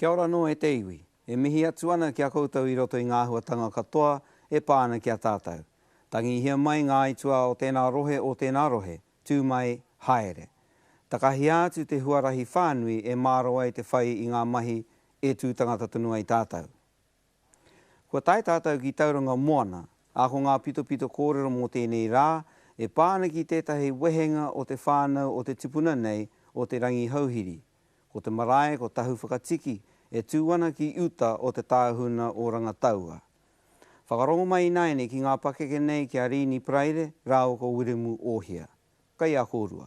Kia ora anō e te iwi. E mihi atu ana ki a koutou i roto i ngā āhuatanga katoa e pā ana ki a tātou. Tangihia mai ngā aituā o tēnā rohe o tēnā rohe, tū mai, haere. Takahia atu te huarahi whānui e māro ai te whai i ngā mahi e tū tangata tonu ai tātou. Kua tae tātou ki Tauranga Moana, ā, ko ngā pitopito kōrero mō tēnei rā e pā ana ki tētahi wehenga o te whānau o te tipuna nei o Te Rangihouhiri. Ko te marae ko Tahu Whakatiki e tū ana ki uta o te tāhuna o Rangataua. Whakarongo mai ināianei ki ngā pakeke nei ki a Rīni Paraire rāua ko Wiremu Ōhia. Kaiakorua.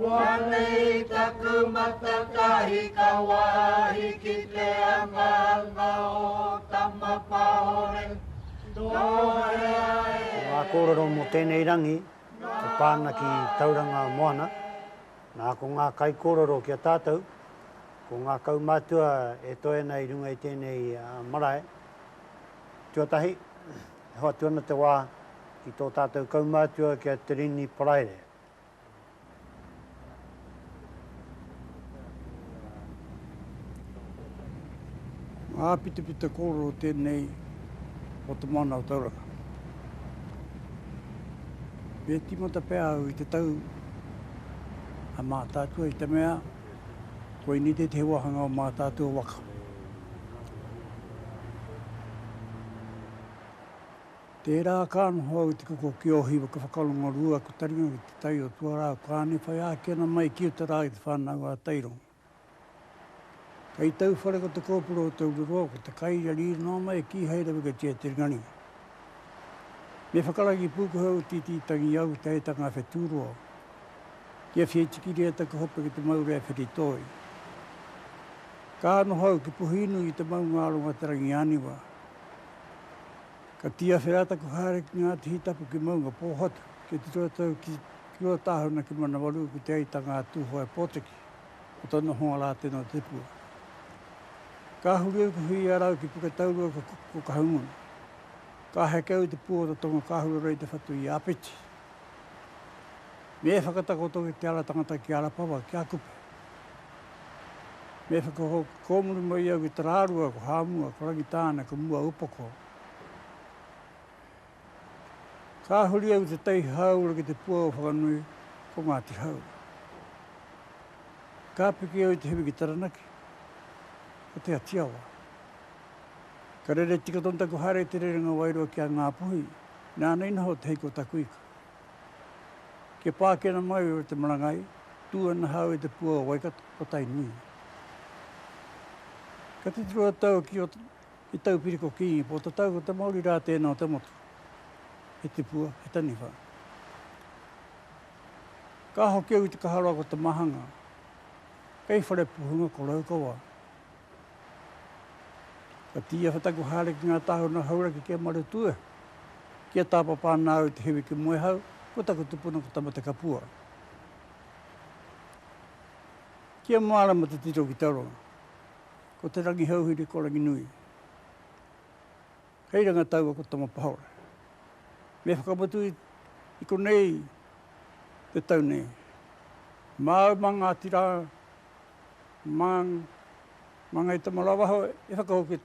Koinei taku mata ka hika wāhi ki te angaanga o Tamapahore, nō hea e. Ko ngā kōrero mō tēnei rangi e pā ana ki Tauranga Moana, nā ko ngā kaikōrero ki a tātou, ko ngā kaumātua e toe ana i runga i tēnei marae. Tuatahi, e hoatu ana te wā ki tō tātou kaumātua ki a Te Rini Paraire, Ngā pitapita kōrero tēnei o Te Moana o Tauranga. Me tīmata pea au i te tau a Mātaatua i te mea koinei tētahi wāhanga o Mātaatua waka. Tērā ka noho au i te koko ki Ohi waka whakarongo-rua aku taringa ki te tai o Tuarau Kāne whai āki ana mai ki uta rā i te whānau a Tairongo. Kei tau whare ko te kōpura o Taureroa ko te kai ia riri noa mai kīhai rawa kia tia te ringaringa. Me whakaragi pūkohe au tītī tangi au te hei tanga a Whetūroa ki a Whieitikiria taku hope ki te maure a Whiritoi. Ka noho au ki Puhīnui i te maunga aronga te rangi āniwa. Ka tiawhe rā taku haere ki ngā tihi tapu ki Maungapōhatu, kia tito ratou ki Ruatāhuna ki Manawarua ki Te Aitanga a Tūhoe Pōtiki, ko tōna honga rā tēnā tipua. Ka huri au ki Huiarau ki Puketaurua ko Kahungunu. Ka heke au i te pū o Rotonga ka huarau i te whatu i Āpiti. Me whakatakoto ki te ara tangata ki Arapawa, ki Akupe. Me whakakōmuri mai au ki Tarārua, ko Hāmua, ko Rangitāne, ko Muaūpoko. Ka huri au i te Taihaura ki te pua o Whakanui, ko Ngāti Hau. Ka piki au i te hiwi ki Taranaki, ko Te Atiawa. Ka rere tika tonu taku haere i te rerenga wairua ki a Ngāpuhi, nāna i noho te hiko o taku ika. Kia pākena mai o te marangai, tū ana hau e te pua o Waikato, o Tainui. Ka titiro a Tau ki o te taupiriko kīngi, pō tatau ko te Māori rā tēnā o te motu, he tipua, he taniwha. Ka hoki au i te kaharoa ko Te Mahanga, kei Wharepuhunga ko Raukawa. Ka tīaha taku haere ki ngā tāhuna hauraki ki a Maretua, ki a Tāpapa nā au te hiwi ki Moehau, ko taku tupuna ko Tamatekapua. Ki a Mārama te tito ki Tauranga, ko Te Rangihouhiri ko Ranginui. Hei ranga taua ko Tamapahore. Me whakamutu i konei te tau nei. Māu mā Ngāti Rā Man, ma ngai tama rawa hou e whakahoki, e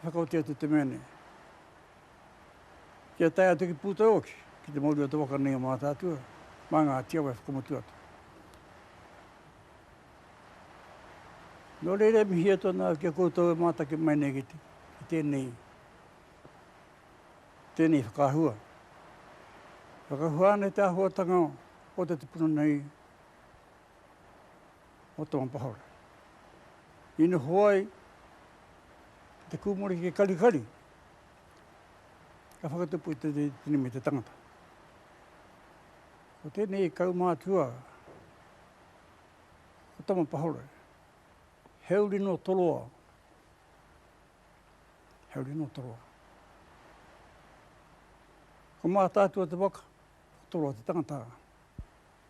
whakaoti atu te mea nei. Kia tae atu ki Pūtaihoki, ki te mauri o te waka nei o Mātaatua, mā ngā tiawa e whakamutu atu. Nō reira e mihi atu ana au ki a koutou e mātaki mai nei ki tēnei, tēnei whakaahua. Whakahua ana i te āhuatanga o te tupuna nei o tō mapahaora. I noho ai ki te kūmore ki te karikari, ka whakatupu i te tini me te tangata. Ko tēnei kaumātua o tō mapahaora, he uri no toroa, he uri no toroa. Ko mātātua te waka, toroa te tangata.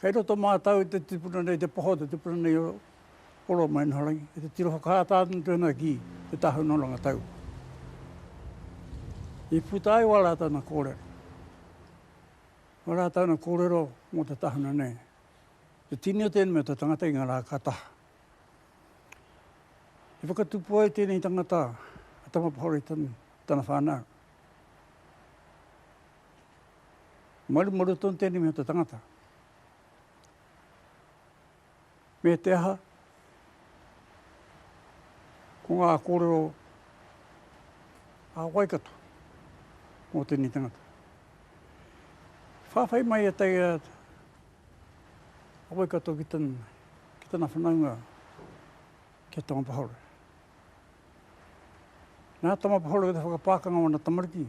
Kei roto mātau i te tipuna nei, te poho o te tipuna nei o Oromainaharangi, ki te tiro whakaata atu te hunga ki Te Tahu Noranga Taua. I puta ai wā rātau na kōrero, wā rātau na kōrero mō te tahuna nei, te tini o tēnei mea te tangata i ngā rā ka taha. I whakatupu ai tēnei tangata a Tama Pahore i tana whānau. Marumaru tonu tēnei mea te tangata. Me te aha, ko ngā kōrero a Waikato mō tēnei tangata. Whāwhai mai e tai a Waikato ki tana, ki tana whanaunga ki a Tamapahore. Nā Tamapahore ki te whakapākanga o ana tamariki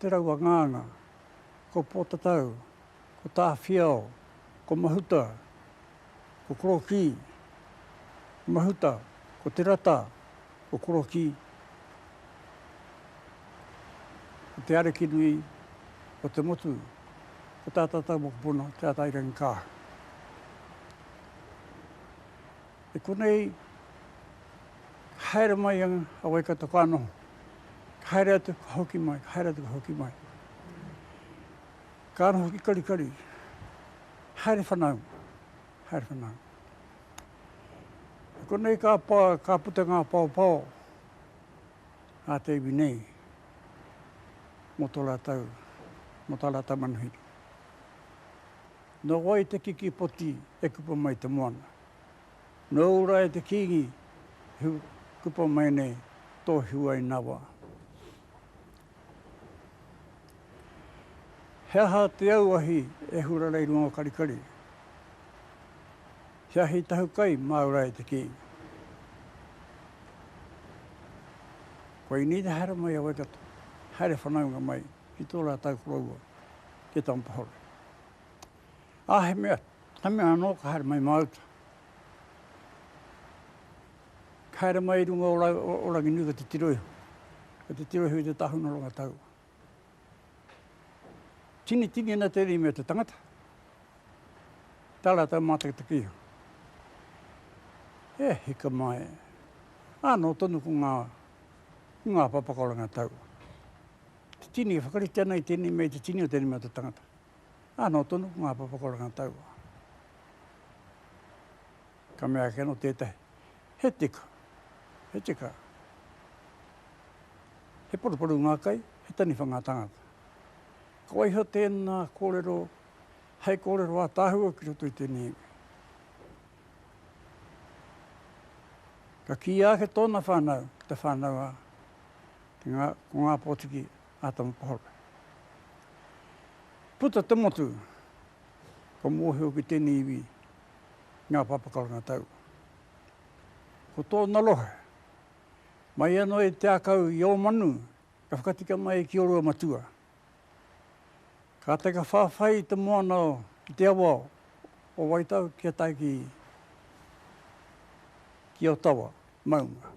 Te Rauangānga, ko Pōtatau, ko Tāwhiao, ko Mahuta, ko Korokī, Mahuta, ko Te Rata, ko Korokī, ko Te Arekinui, ko Te Motu, ko tā tātau mokopuna, Te Atairangikaahu. I konei ka haere mai a Waikato ka noho. Ka haere atu ka hoki mai, ka haere atu ka hoki mai. Ka noho ki Karikari, haere whanau, haere whanau. I konei ka, pa, ka puta ngā paopao a te iwi nei mō tō rātou, mō tā rātou manuhiri. Nō wai te kiki poti e kupa mai te moana? Nō Ūrae te Kīngi he kupa mai nei tō Hiwainawa. He aha te auahi e hura nei runga o Karikari? He ahi tahu kai mā Ūrae te Kīngi. Kua i nīna haere mai a Waikato, haere whanaunga mai ki tō rātau koroua, ki Tampahore. Ā, he mea, he mea anō ka haere mai māuta. Ka haere mai i runga o ra, o, o Ranginui ko te tiro iho. Ko te tiro iho i te tāhuna o Rangataua. Tinitini ana tēnei mea te tangata, tā rātou mātakitaki iho. E hika mai, ānō tonu ko ngā, ko ngā papa ko Rangataua. Te tini, e whakarite ana i tēnei mea, i te tini o tēnei mea o te tangata. Ā, nō tonu ko ngā papa kua rangataua. Ka mea ake anō tētahi, He teka, he teka. He paruparu ngā kai, he taniwha ngā tāngata. Ka waiho tēnā kōrero hei kōrero ātaahua ki roto i tēnei iwi. Ka kīia ake tōna whānau, te whānau a Ko ngā pōtiki a Tamapahaura. Puta te motu, ka mōhio ki tēnei iwi ngā papa karanga tau. Ko tōna rohe, mai anō i te akau i Ōmanu, ka whakatika mai ki Oruamatua. Kātahi ka whawhai i te moana o, i te awa o Waitao kia tae ki, ki Otawa, maunga.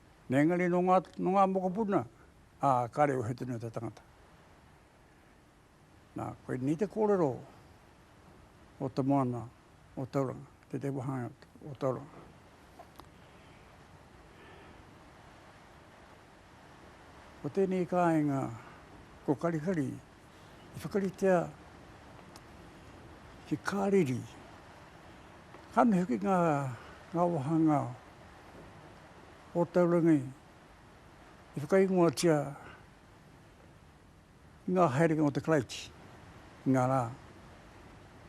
Engari nō ngā, nō ngā mokopuna, ā, kāre wehe tonu atu a tangata. Nā, koinei te kōrero o te moana o Tauranga, te te wahanga o Tauranga. Ko tēnei kāinga, ko Karikari, i whakaritea he kāriri. Ka mihi hoki ngā, ngā wāhanga o taurangi i whakaingoatia i ngā haerenga o te Karaiti, i ngā rā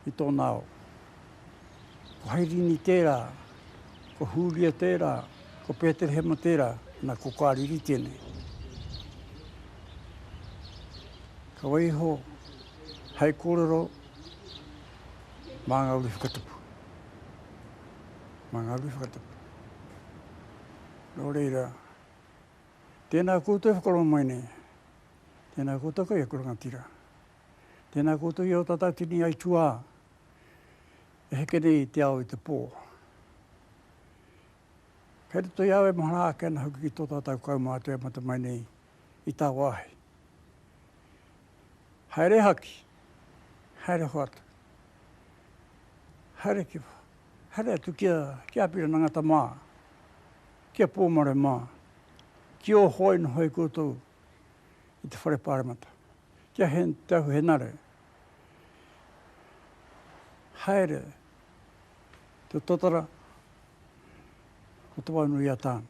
i tōna ao. Ko Hairini tērā, ko Hūria tērā, ko Pēterehema tērā, nā, ko Kāriri tēnei. Ka waiho hei kōrero mā ngā uri whakatapu. Mā ngā uri whakatapu. Nō reira, tēnā koutou whakarō mai nei, tēnā koutou kai aku rangatira. Tēnā koutou i arotatau tini ai tuā e heke nei i te ao i te pō. Kei roto i a au e mahara ake ana hoki ki tō tātau kaumātua e mate mai nei i tā wāhi. Haere haki, haere hoatu, haere kiwa, haere atu ki a, ki a Apirana Ngata mā, ki a Pōmare mā, ki o hoi nohoi koutou i te whare pāremata. Kia hen te ahuhenare. Haere te totara o te waunui a Tane.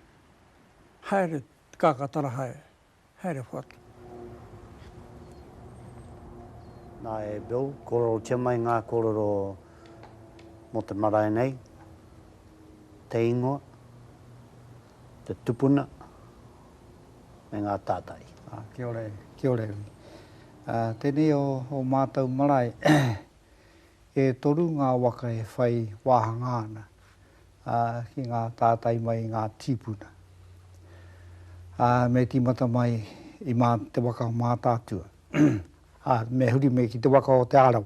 Haere te kakatara hae. Haere whatu. Na e Bill, korotia mai nga korero mo te marae nei, te ingoa, te tupuna me ngā tātari. Kia ora e, kia ora e. Tēnei o o mātou marae, e toru ngā waka e whai wāhangā ana ki ngā tātai mai i ngā tīpuna. Me tīmata mai i mā te waka o Mātaatua. Me huri me ki te waka o Te Arawa.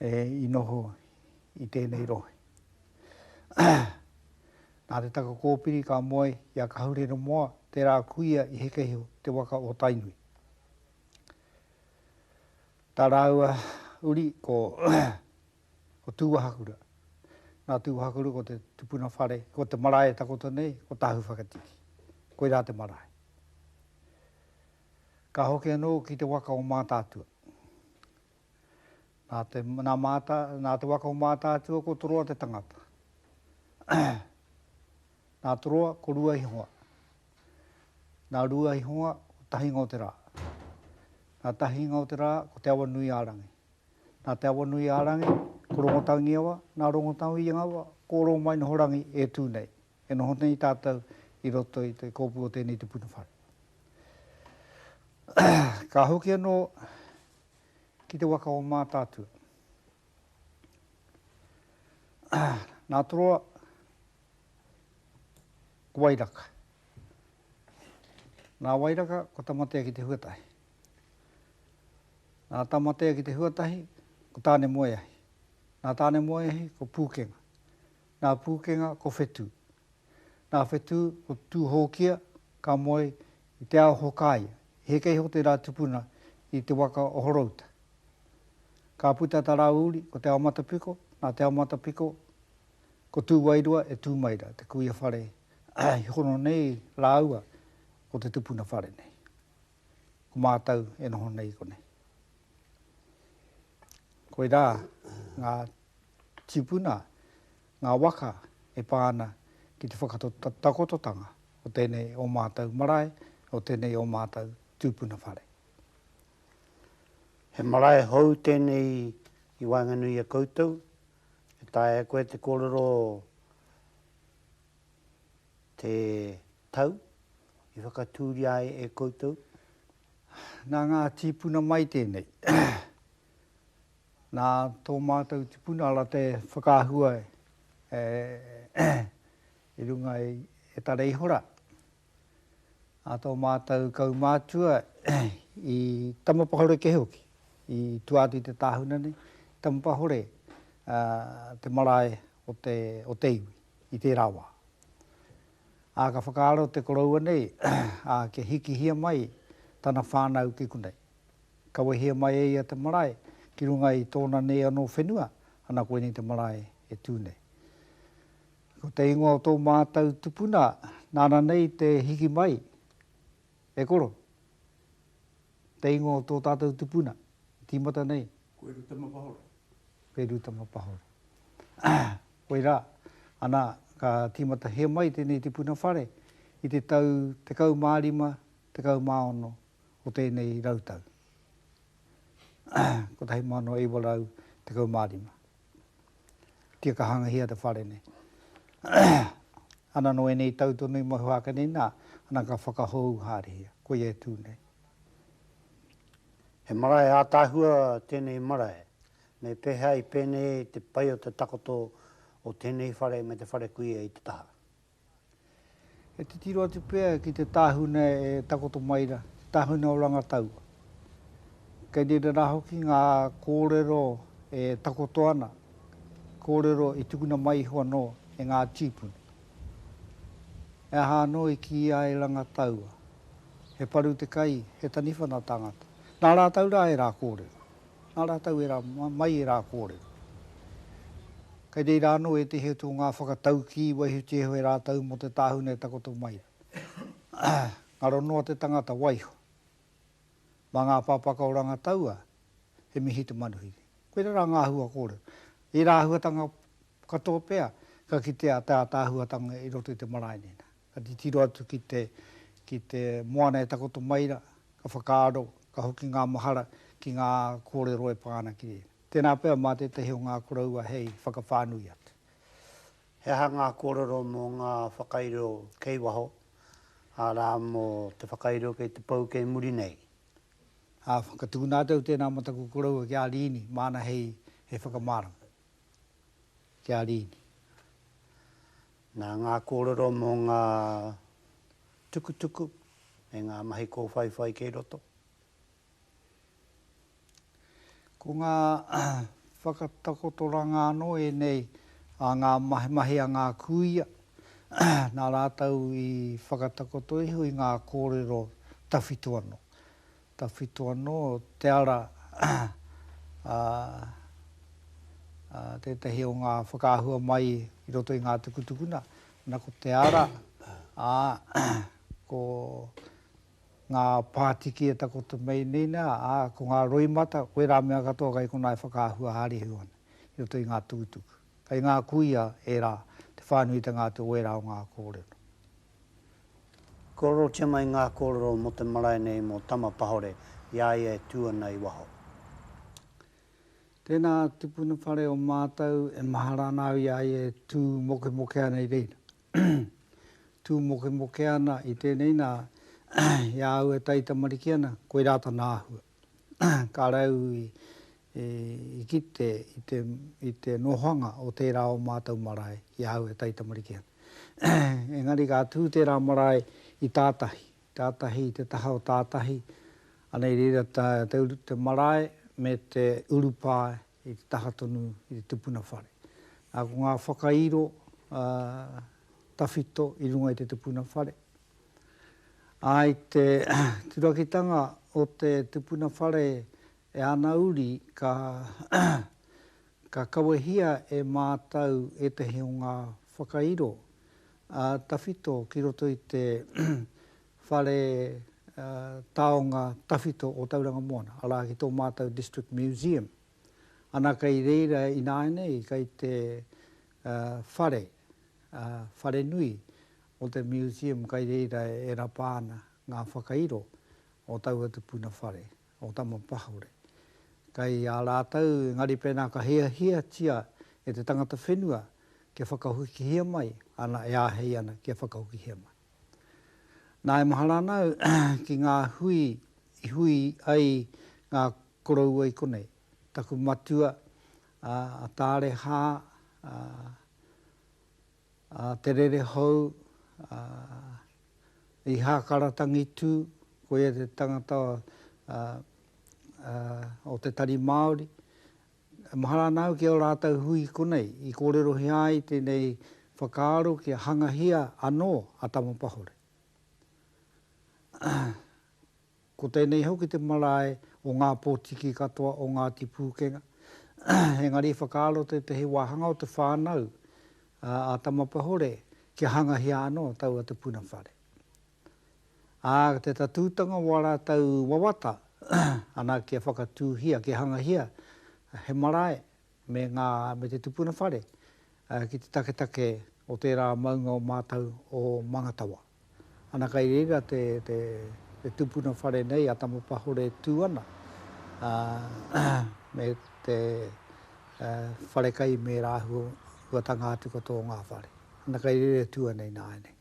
e, i noho i tēnei rohe. Nā te taka kōpiri ka moe i a Kahurere Moa, tērā kuia i Hekehiho, te waka o Tainui. Tā rāua uri ko, ko Tūwahakura. Nā Tūwahakura ko te tupuna whare, ko te marae e takoto nei, ko Tāhuwhakatiki. Koirā te marae. Ka hoki anō ki te waka o Mātaatua. Nā te, nā Māta, nā te waka o Mātaatua ko Toroa te tangata. nā Toroa ko Ruaihonga. Nā Ruaihonga ko Tahinga o te Rā. Nā Tahinga o te Rā ko Te Awanui-ā-rangi. Nā Te Awanui-ā-rangi ko Rongotaungiawa, nā Rongotaungiawa ko Oromainohorangi e tū nei. E noho nei tātou i roto i te kōpū o tēnei te puna whare. Ka hoki anō ki te waka o Mātaatua. Nā Toroa, ko Wairaka. Nā Wairaka, ko Tamatea ki te Huatahi. Nā Tamatea ki te Huatahi, ko Tānemoeahi. Nā Tānemoeahi, ko Pūkenga. Nā Pūkenga ko Whetū. Nā Whetū ko Tūhōkia ka moe i te ao Hokāia. I heke iho tērā tupuna i te waka o Horouta. Ka puta tā rāua uri ko Te Aomatapiko, nā Te Aomatapiko ko Tūwairua e Tūmaira, te kuia whare i hono nei rāua ko te tupuna whare nei. Ko mātau e noho nei i konei. Koirā ngā. Tipuna ngā waka e pā ana ki te whakatakototanga o tēnei o mātou marae, o tēnei o mātou tūpuna whare. He marae hou tēnei i waenganui i a koutou, e taea e koe te kōrero te tau i whakatūria ai e koutou? Nā ngā tīpuna mai tēnei. Nā tō mātou tipuna ara te whakaahua i runga i Tareihora, nā tō mātou kaumātua i Tamapahore kē hoki, i tua atu i te tāhuna nei, i Tamapahore te marae o te, o te iwi i tērā wā. Ā, ka whakaaro te koroua nei, ā, kia hikihia mai tana whānau ki konei. Kawehia mai e ia te marae ki runga i tōna nei anō whenua, ana koinei te marae e tū nei. Ko te ingoa o tō mātou tupuna nāna nei te hiki mai, e koro, te ingoa o tō tātou tupuna i tīmata nei. Koe Rutama Pahoro. Koe Rutama Pahoro. Koirā, ana, ka tīmatahia mai tēnei tipuna whare i te tau 15, 16 o tēnei rautau 1915. Kia ka hangahia te whare nei. Ana nō ēnei tau tonu i moe ake nei, nā, ana ka whakahou haerehia, koia e tū nei. He marae ātaahua tēnei marae. Me pēhea i pēnei te pai o te takoto o tēnei whare me te whare kuia i te taha? E titiro atu pea ki te tāhuna e takoto mai rā, te tāhuna o Rangataua. Kei reira rā hoki ngā kōrero e takoto ana, kōrero i tukuna mai iho anō e ngā tīpuna. He aha anō i kīia e Rangataua? He paru te kai, he taniwha nā tāngata. Nā rātou rā ērā kōrero. Nā rātou e rā, mai e rā kōrero. Kei reira anō e te heoti o ngā whakataukī waihotiho e rātou mō te tāhuna e takoto mai ai. Ngaro noa te tangata waiho. Mā ngā pāpaka o Rangataua, he mihi te manuhiri. Koirā rā ngā āhua kōrero. Ērā āhuatanga katoa pea ka kitea te ātaahuatanga i roto i te marae nei nā. Ka titiro atu ki te, ki te moana e takoto mai ra, ka whakaaro, ka hoki ngā mahara ki ngā kōrero e pā ana ki rēnei. Tēnā pea mā tētahi o ngā koroua hei whakawhānui atu. He aha ngā kōrero mō ngā whakairo kei waho, arā, mō te whakairo kei te pou kei muri nei? Ā, ka tukuna atu au tēnā mō taku koroua ki a Rīni, māna hei, hei whakamārama. Ki a Rīni. Nā ngā kōrero mō ngā tukutuku me ngā mahi kōwhaiwhai kei roto. Ko ngā whakatakotoranga anō ēnei a ngā mahi a ngā kūia, nā rātou i whakatakoto iho i ngā kōrero tawhito anō. Tawhito anō te ara, ā, ā, tētahi o ngā whakaahua mai i roto i ngā tukutukuna, nā ko te ara, ā, ko ngā pātiki e takoto mai nei nā, ā, ko ngā roimata, koe rā mea katoa kai konā e whakaahua hārihu ana i roto i ngā tukutuku. Kai ngā kuia ērā te whānuitanga atu o ērā o ngā kōrero. Korotia mai ngā kōrero mō te marae nei mō Tama Pahore i a ia e tū ana i waho. Tēnā tupuna whare o mātou e mahara ana au i a ia e tū mokemoke ana i reira. Tū mokemoke ana i tēnei nā, i a au e taitamariki ana, koirā tana āhua. Ka rau i kite i te nohoanga o tērā o mātou marae i ahau e taitamariki ana. Engari ka tū tērā marae i tātahi, tātahi i te taha o tātahi, ana i reira te marae me te urupā i te taha tonu i te tupuna whare. Ā, ko ngā whakairo tawhito i runga i te tupuna whare, ā, i te turakitanga o te tupuna whare e ana uri ka ka kawehia e mātau ētahi o ngā whakairo tawhito ki roto i te Whare Taonga Tawhito o Tauranga Moana, arā, ki tō mātou District Museum. Ana, kei reira ināianei, kei te whare, whare nui o te Museum, kei reira e rapa ana ngā whakairo o taua tupuna whare, o Tamapahore. Kei a rātou, engari pēnā ka hiahiatia e te tangata whenua kia whakahukihia mai, ana, e āhei ana kia whakahukihia mai. Nā, e mahara ana au ki ngā hui i hui ai ngā koroua i konei. Taku matua, a Tarehā, a Te Rerehou, a i Hākara Tangitū, koia te tangata o te Tari Māori, E mahara ana au ki ō rātou hui konei i kōrerohia ai tēnei whakaaro kia hangahia anō a Tamapahore. Ko tēnei hoki te marae o ngā pōtiki katoa o Ngāti Pūkenga, engari i whakaaro tētehi wāhanga o te whānau a Tamapahore kia hangahia anō taua te puna whare. Ā, ko te tatūtanga o ā rātou wawata ana kia whakatūhia, kia hangahia he marae me ngā, me te tupuna whare ki te taketake o tērā maunga o mātou o Mangatawa. Ana kai reira te, te, te tupuna whare nei a Tamapahore e tū ana, ā, me te wharekai me rāhuatanga atu katoa o ngā whare. Ana kai reira e tū ana ināianei.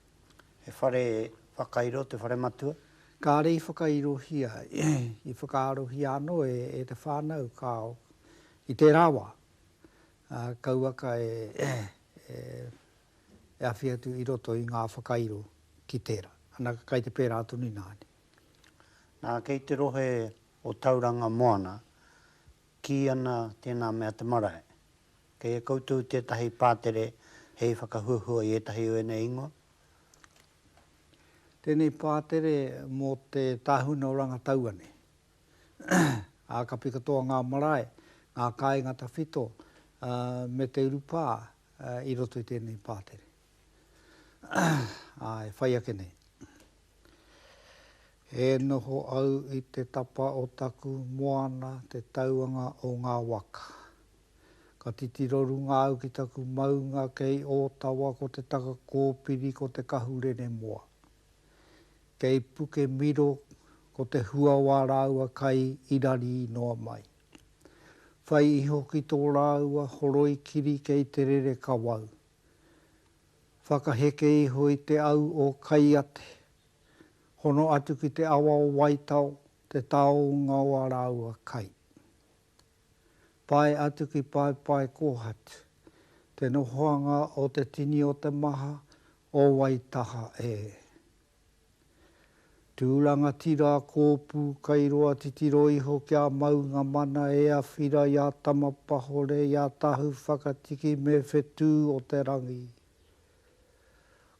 He whare whakairo te whare matua. Kāre i whakairohia, i whakaarohia anō e te whānau kāo i tērā wā. Kauaka e awhi atu i roto i ngā whakairo ki tērā. Ana, kai te pērā tonu ināne. Nā, kei te rohe o Tauranga Moana, kī ana tēnā mea te marae. Kei a koutou tētahi pātere hei whakahuahua i ētahi o ēnei ingoa? Tēnei pātere mō te tāhuna o Rangatauane. Ākapi katoa ngā marae, ngā kāinga tawhito me te urupā i roto i tēnei pātere. E whai ake nei. E noho au i te tapa o taku moana te tauanga o ngā waka. Ka titiro runga au ki taku maunga kei Ōtawa ko te taka kōpiri ko te kahu rere moa. Kei Pukemiro ko te huawa rāua kai i rari noa mai. Whai iho ki tō rāua horoi kiri kei te rere kawau. Whakaheke iho i te au o Kaiate. Hono atu ki te awa o Waitao te taonga o a rāua kai. Tae atu ki Paepae Kohat, te nohoanga o te tini o te maha o Waitaha e. Tū rangatira a Kōpū kai roa titiro iho ki a Maunga Mana e awhira i a Tamapahore, i a Tahu Whakatiki me Whetū o te Rangi.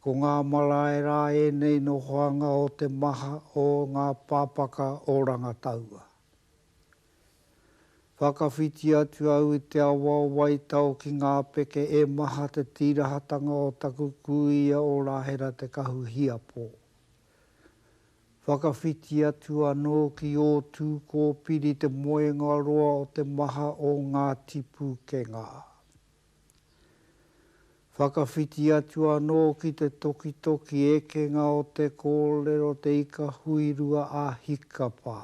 Ko ngā marae rā ēnei nohoanga o te maha o ngā pāpaka o Rangataua. Whakawhiti atu au i te awa o Waitao ki ngā peke e maha te tīrahatanga o taku kūia o Rahera Te Kahu Hiapo. Whakawhiti atu anō ki ō Tūkōpiri te moenga roa o te maha o Ngāti Pūkenga. Whakawhiti atu anō ki te tokitoki ekenga o te kōrero Te Ika Huirua a Hikapa.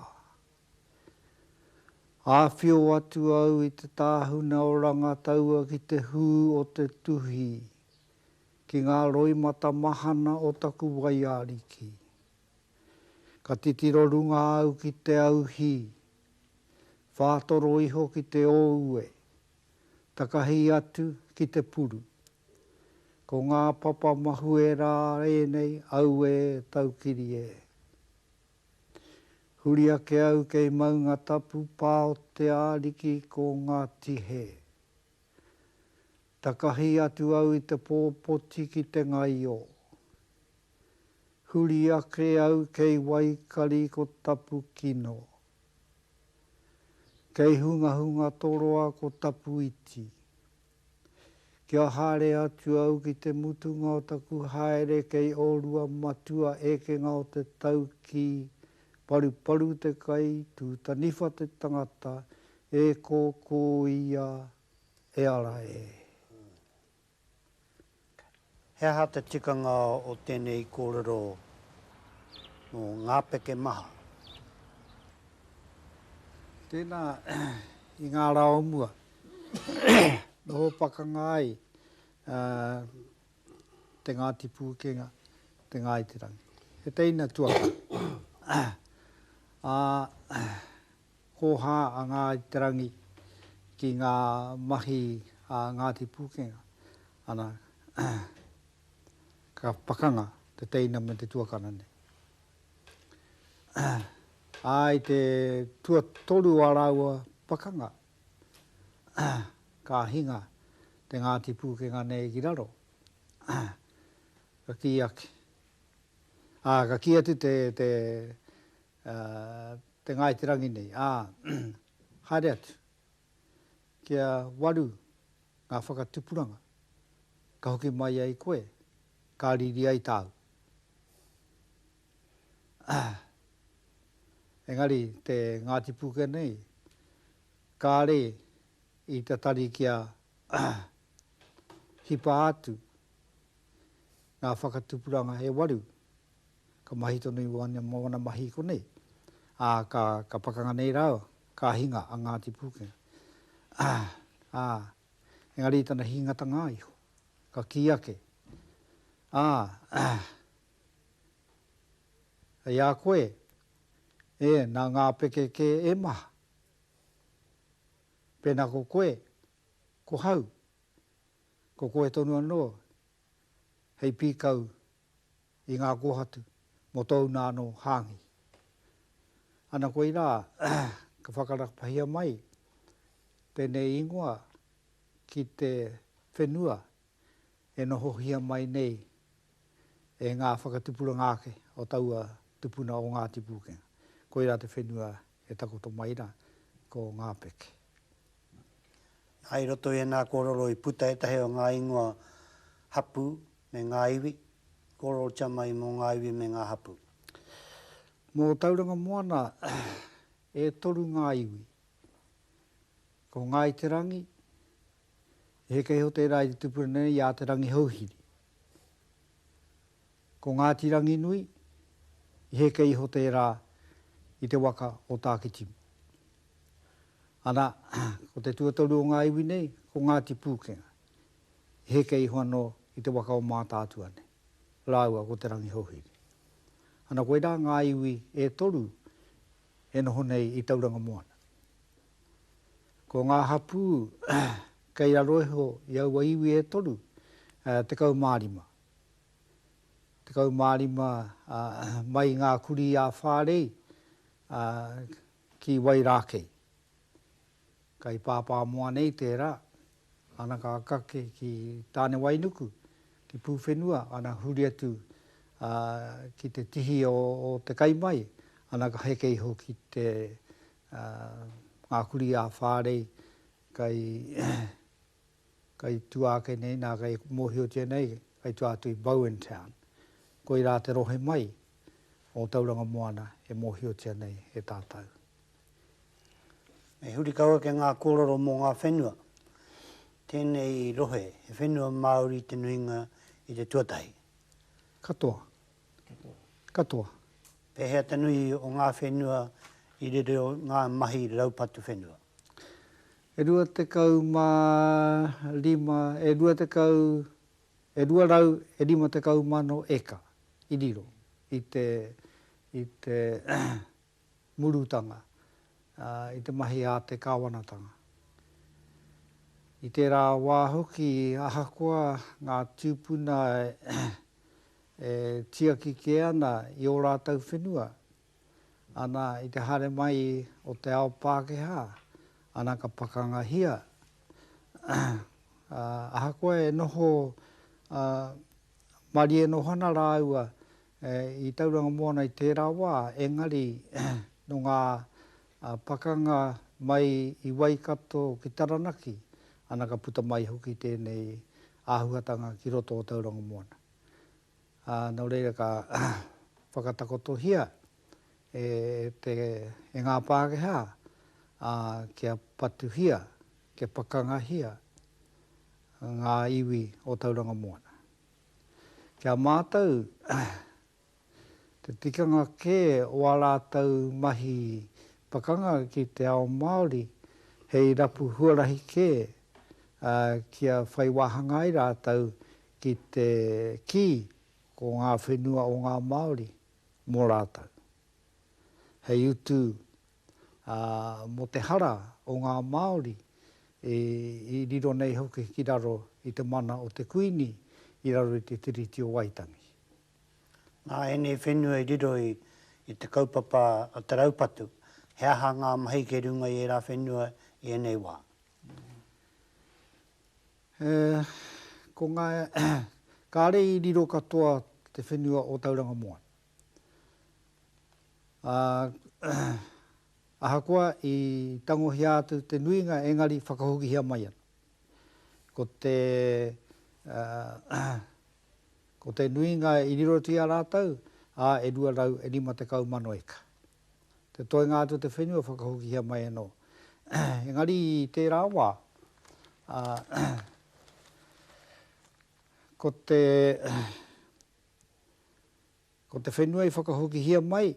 Āwhio atu au i te tāhuna o Rangataua ki te hū o te tuhi, ki ngā roimata mahana o taku waiariki. Ka titiro runga au ki te auhi, whātoro iho ki te ōue, takahi atu ki te puru. Ko ngā papa mahue rā ēnei, auē taukiri e! Huri ake au kei Maunga Tapu pā o te Ariki ko Ngāti Hē. Takahi atu au i te pō poti ki te ngaio. Huri ake au kei Waikari ko tapu kino. Kei Hungahunga Toroa ko tapu iti. Kia haere atu au ki te mutunga o taku haere kei orua matua ekenga o te tau ki Paruparu te kai, Tūtaniwha te tangata, e kōkō ia e ara e. He aha te tikanga o tēnei kōrero mō ngā peke maha? Tēnā, i ngā rā o mua, noho pakanga ai te Ngāti Pūkenga, te Ngāi Te Rangi. He teina tuakana. Ā. hōhā a Ngāi Te Rangi ki ngā mahi a Ngāti Pūkenga, ana, ka pakanga te teina me te tuakana nei. Ā, i te tuatoru o ā rāua pakanga, ka hinga te Ngāti Pūkenga nei ki raro, ka kī ake, ā, ka kī atu te, te, a te Ngāi Te Rangi nei, ā, haere atu, kia waru ngā whakatupuranga ka hoki mai ai koe, ka riri ai tāu. Engari te Ngāti Pūkea nei, kāre i tatari kia hipa atu ngā whakatupuranga e waru, Ka mahi tonu i wana, mō wana mahi i konei, ā, ka, ka pakanga nei rāua, ka hinga a Ngāti Pūkenga. Ā, engari i tana hingatanga iho, ka kī ake, Ā, hei a koe, e, nā ngā peke kē e maha. Pēnā ko koe, ko hau, ko koe tonu anō hei pīkau i ngā kōhatu mō tōu nā anō hāngi. Ana koirā ka whakarakapahia mai tēnei ingoa ki te whenua e nohohia mai nei e ngā whakatupuranga ake o taua tupuna o Ngāti Pūkenga. Koirā te whenua E takoto mai ra ko Ngapeke. Na, i roto i ena kororo i puta etahi o nga ingoa hapu me nga iwi, kororotia mai mo nga iwi me nga hapu. Mo Tauranga Moana e toru nga iwi. Ko Ngai Te Rangi, he keiho tera i te tupuna nei i a Te Rangihouhiri. Ko Ngāti Ranginui, i heke iho tērā i te waka o Tākitimu. Ana, ko te tuatoru o ngā iwi nei, ko Ngāti Pūkenga, i heke iho anō i te waka o Mātaatua nei, rāua ko Te Rangihouhiri. Ana, koirā ngā iwi e toru e noho nei i Tauranga Moana. Ko ngā hapū kei raro iho i aua iwi e toru, tekau mā rima. 15 mai ngā kurī a Whārei ki Wairākei. Kai Pāpāmoa nei tērā, ana ka kake ki Tānewainuku, ki Pūwhenua, ana huri atu ki te tihi o te kai mai, ana ka heke iho ki te ngā kurī a Whārei kai Kai tua ake nei, nā, kai mōhiotia nei, kai tua atu i Bowen Town. Koirā te rohe mai o Tauranga Moana e mōhiotia nei e tātou. Me huri kau ake ngā kōrero mō ngā whenua. Tēnei rohe, he whenua Māori te nuinga i te tuatahi. Katoa. Katoa. Pēhea te nui o ngā whenua i riro ngā mahi raupatu whenua? E rua tekau mā rima, e rua tekau, e rua rau e rima tekau mano eka i riro i te, i te murutanga, i te mahi a te Kāwanatanga. I tērā wā hoki, ahakoa ngā tūpuna e tiaki kē ana i ō rātou whenua, Ana i te haere mai o te ao Pākehā, ana ka pakangahia, ā, ahakoa e noho marie noho ana rāua i Tauranga Moana i tērā wā, engari nō ngā pakanga mai i Waikato ki Taranaki, ana ka puta mai hoki tēnei āhuatanga ki roto o Tauranga Moana. ā, nō reira ka whakatakotohia e te, e ngā Pākehā, ā, kia patuhia, kia pakangahia ngā iwi o Tauranga Moana. Ki a mātou, te tikanga kē o ā rātou mahi pakanga ki te ao Māori, hei rapu huarahi kē, ā, kia whai wāhanga ai rātou ki te kī ko ngā whenua o ngā Māori mō rātou. Hei utu, ā, mō te hara o ngā Māori i riro nei hoki ki raro i te mana o te Kuini i raro i te Tiriti o Waitangi. Nā ēnei whenua i riro i te kaupapa a te raupatu, he aha ngā mahi kei runga i ērā whenua i ēnei wā? He, ko ngā, kāre i riro katoa te whenua o Tauranga Moana. Ā, ahakoa i tangohia atu te nuinga engari whakahokihia mai ana. Ko te, ko te nuinga i riro atu i a rātou, ā, e 250 eka. te toenga atu o te whenua whakahokihia mai anō. Engari i tērā wā, ko te ko te whenua i whakahokihia mai,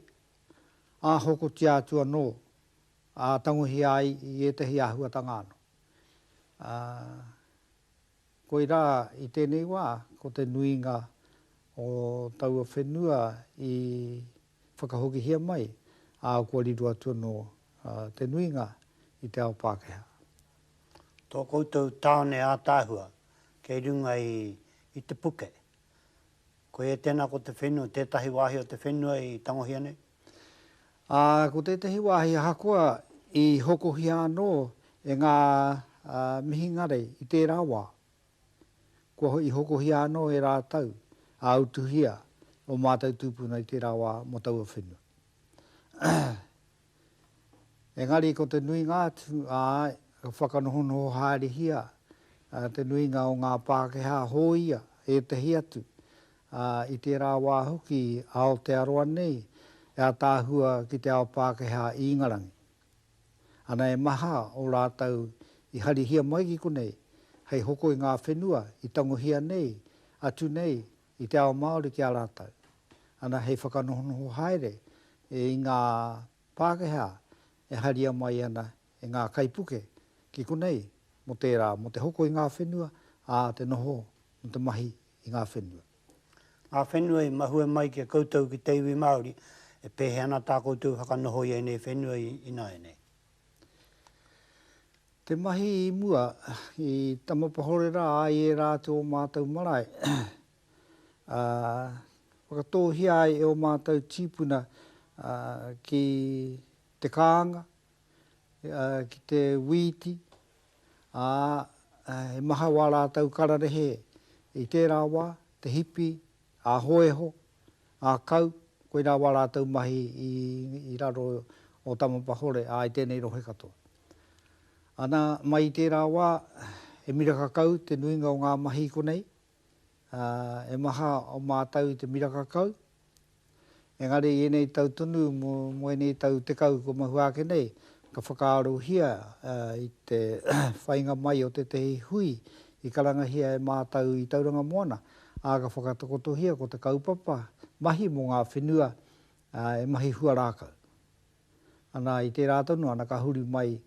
ā hokotia atu anō, ā tangohia ai i ētahi āhuatanga anō. Koirā i tēnei wā, ko te nuinga o taua whenua i whakahokihia mai, ā, kua riro atu anō te nuinga i te ao Pākehā. Tō koutou tāone ātaahua kei runga i te puke. Koia tēnā ko te whenua, tētahi wāhi o te whenua i tangohia nei? Ā, ko tētahi wāhi ahakoa i hokohia anō e ngā mihinare i tērā wā. Kua i hokohia anō e rātou, ā utuhia ō mātou tūpuna i tērā wā mō taua whenua. Engari ko te nuinga atu, āe, ka whakanohonoho haerehia te nuinga o ngā Pākehā hōia, ētahi atu, ā, i tērā wā hoki a Aotearoa nei e ataahua ki te ao Pākehā i Ingarangi. Ana e maha o rātou i harihia mai ki konei hei hoko i ngā whenua i tangohia nei atu nei i te ao Māori ki a rātou. Ana hei whakanohonoho haere i ngā Pākehā e haria mai ana e ngā kaipuke ki konei mō tērā, mō te hoko i ngā whenua, ā, te noho mō te mahi i ngā whenua. Ngā whenua i mahue mai ki a koutou ki te iwi Māori, e pēhea ana tā koutou whakanoho i ēnei whenua ināianei? Te mahi i mua, i Tamapahore rā, i ērā atu o mātou marae, ā, whakatōhia ai e ō mātou tīpuna ki te kānga, ki te wīti, ā, he maha wā rātou kararehe i tērā wā, te hipi, ā-hōiho, ā-kau, koirā wā rātou mahi i raro o Tamapahore, ā, i tēnei rohe katoa. Ana, mai i tērā wā, he miraka kau te nuinga o ngā mahi i konei, He maha o mātou i te miraka kau, engari i ēnei tau tonu mō ēnei tau tekau kua mahua ake nei, ka whakaarohia i te whainga mai o tētehi hui i karangahia e mātou i Tauranga Moana, ā, ka whakatakotohia ko te kaupapa mahi mō ngā whenua e mahi huarākau. Ana, i tērā tonu, ana ka huri mai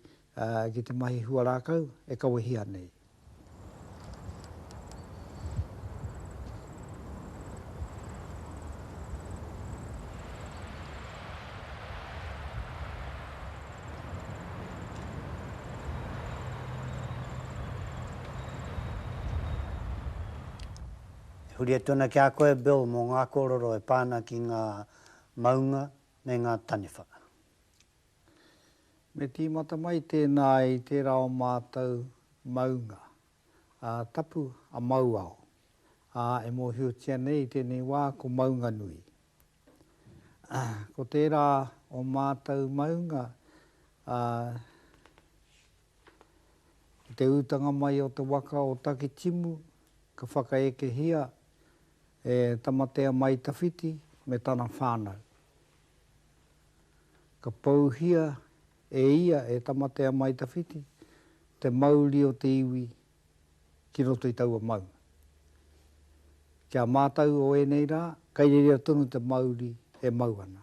ki te mahi huarākau e kawehia nei. E huri atu ana ki a koe, Bill, mō ngā kōrero e pā ana ki ngā maunga me ngā taniwha. Me tīmata mai tēnā i tērā o mātou maunga, a Tapu a Mauao, ā, e mōhiotia nei i tēnei wā ko Maunganui. Ko tērā o mātou maunga, ā, i te utanga mai o te waka o Takitimu, ka whakaekehia e Tamatea Mai Tawhiti me tana whānau. Ka pouhia e ia e Tamatea Mai Tawhiti te mauri o te iwi ki roto i taua maunga. Ki a mātou o ēnei rā, kai reira tonu te mauri e mau ana.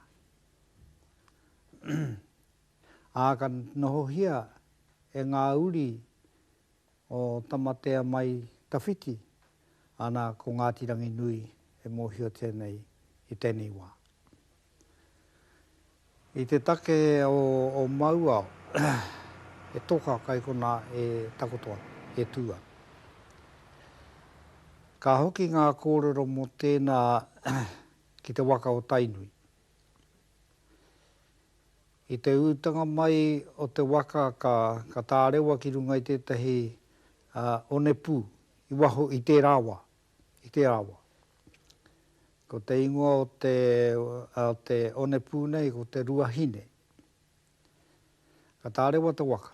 Ā, ka nohohia e ngā uri o Tamatea mai tawhiti, ana ko Ngāti Ranginui e mōhiotia nei i tēnei wā. I te take o Mauao, he toka kai konā e takoto ana, e tū ana. Ka hoki ngā kōrero mō tēnā ki te waka o Tainui. I te utanga mai o te waka ka ka tārewa ki runga i tētahi onepū i waho i tērā wā, i tērā wā. Ko te ingoa o te o te onepū nei ko te Ruahine. Ka tārewa te waka.